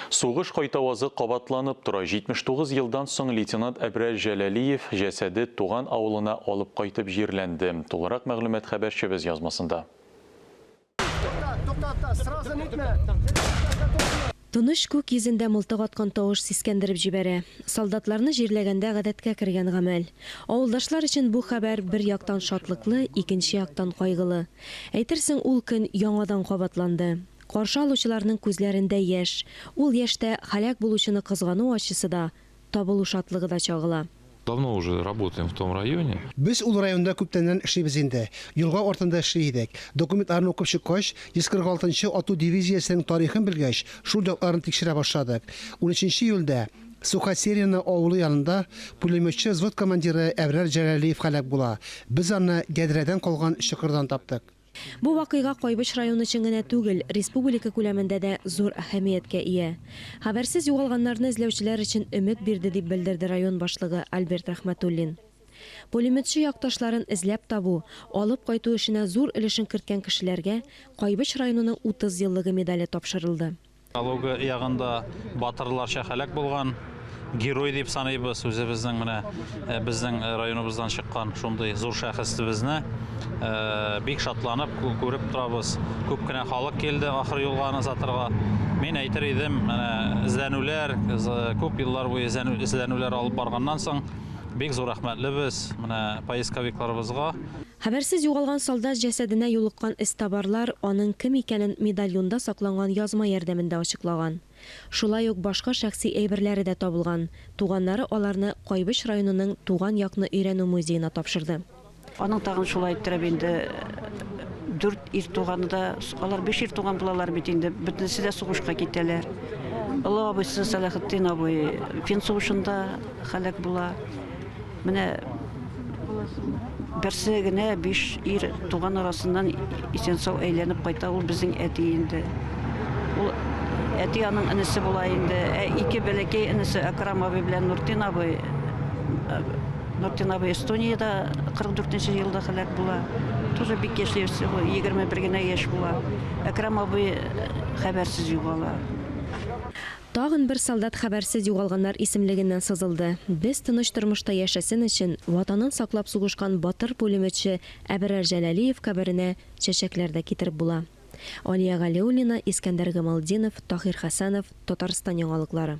Сугыш кайтавазы кабатланып тора, 79 елдан соң лейтенант Әбрәл Җәләлиев җәсәде туган авылына алып кайтып җирләнде. Тулырак мәгълүмат хәбәрчебез язмасында. Тыныч күк йөзендә мылтык аткан тавыш сискәндереп җибәрә. Солдатларны җирләгәндә гадәткә кергән гамәл. Авылдашлар өчен бу хәбәр бер яктан шатлыклы, икенче яктан кайгылы. Әйтерсең, ул көн яңадан кабатланды. Каршы алучыларның күзләрендә яшь, ул яшьтә һәлак булучыны кызгану ачысы да, табылу шатлыгы да чагыла. Давно уже работаем в том районе. Без ул районда күптәннән эшлибез инде. Елга артында эшли идек. Документларны укып чыккач, 146 нчы ату дивизиясенең тарихын белгәч, шул якларны тикшерә башладык. Унөченче июльдә Сухосерино авылы янында пулеметчы взвод командиры Әбрар Җәләлиев һәлак була. Без аны ядрәдән калган чокырдан таптык. Бу вакыйга Кайбыч районы өчен генә түгел, республика күләмендә дә зур әһәмияткә ия. Хәбәрсез югалганнарны эзләүчеләр өчен өмет бирде, дип белдерде район башлыгы Альберт Рәхмәтуллин. Пулеметчы якташларын эзләп табу, алып кайту эшенә зур өлешен керткән кешеләргә Кайбыч районының 30 еллыгы медале тапшырылды. Калуга ягында батырларча һәлак булган герой дип саныйбыз үзебезнең менә э, безнең э, районыбыздан чыккан шундый зур шәхесебезне э, бик шатланып күреп торабыз күп кенә халык килде ахыр юлга аны озатырга мин әйтер идем менә эзләнүләр күп еллар буе эзләнүләр алып барганнан соң бик зур рәхмәтлебез менә поисковикларыбызга Хәбәрсез югалган солдат җәсәденә юлыккан эзтабарлар аның кем икәнен медальонда сакланган язма ярдәмендә ачыклаган. Шулай ук башка шәхси әйберләре дә табылган, туганнары аларны Кайбыч районының Туган якны өйрәнү музеена тапшырды. Аның тагын шулай иттереп инде дүрт ир туганы да, алар биш ир туган булалар бит инде, бөтенесе дә сугышка китәләр. Олы абыйсы Сәлахетдин абый Фин сугышында һәлак була. Менә берсе генә биш ир туган арасыннан исән-сау әйләнеп кайта, ул безнең әти инде. Ул әти аның энесе була инде. Ә ике бәләкәй энесе Акрам абый белән Нуртин абый. Э, Нуртин абый Эстониядә 44 елда һәлак була. Тоже бик яшьли, всего 21 генә яшь була. Акрам абый э, хәбәрсез югала. Тагын бер солдат хәбәрсез югалганнар исемлегеннән сызылды. Без тыныч тормышта яшәсен өчен, Ватанын саклап сугышкан батыр пулеметчы Әберар Җәләлиев каберенә чәчәкләр дә китереп була. Алия Галиуллина, Искәндәр Гамалтдинов, Таһир Хәсәнов, Татарстан яңалыклары.